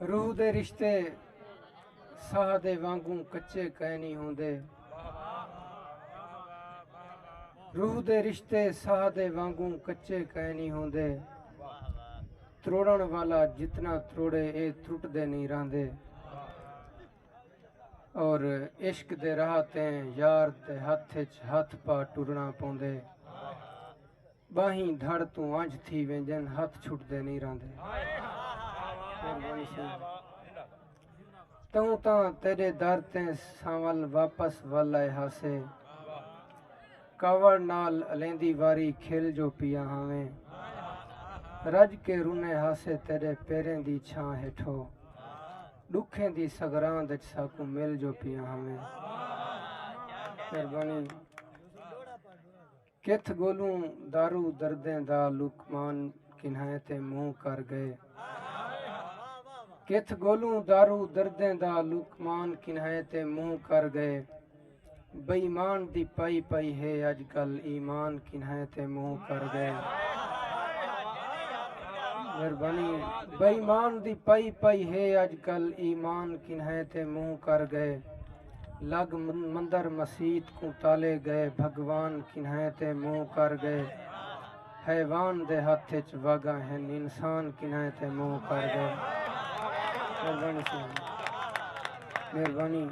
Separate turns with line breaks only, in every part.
روح دے رشتے ساہ دے وانگوں کچے کائنی ہوندے روح دے رشتے ساہ دے وانگوں کچے کائنی ہوندے تروڑن والا جتنا تروڑے اے ترٹ دے نہیں راندے اور عشق دے راہ تیں یار دے ہاتھ اچ ہاتھ پا ٹرنا پوندے ٻاہیں دھڑ توں ونجھ تھی ویندین ہتھ چھٹدے نی رہندے۔ توں تاں تیڈے در تے سانول واپس ول آئے ہاسے۔ کاوڑ نال الیندی واری کھل جو پیا ہاویں۔ رج کے رنے ہاسے تیڈے پیریں دی چھاں ہیٹھو۔ ڈکھیں دی سگراند اچ ساکوں مل جو پیا ہاویں۔ کتھ گولوں دارو دردیں دا لقمان کنھائیں تے منہ کر گئے کتھ گولوں دارو دردیں دا لقمان کنھائیں تے منہ کر گئے بے ایمان دی پائی پائی ہے اج کل ایمان کنھائیں تے منہ کر گئے مہربانی بے ایمان دی پائی پائی ہے اج کل ایمان کنھائیں تے منہ کر گئے لگ مندر مسیت کوں تالے گئے بھگوان کنہیں تے منہ کر گئے حیوان دے ہتھ اچ وگاں ہن انسان کنہیں تے منہ کر گئے مہربانی سنگھ مہربانی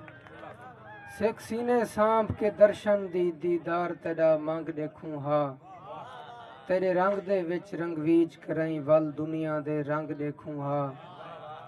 سکھ سینے سانپ کے درشن دی دیدار تیڈا منگ ڈیکھوں ہا تیرے رنگ دے وچ رنگویج کرائیں ول دنیا دے رنگ ڈیکھوں ہا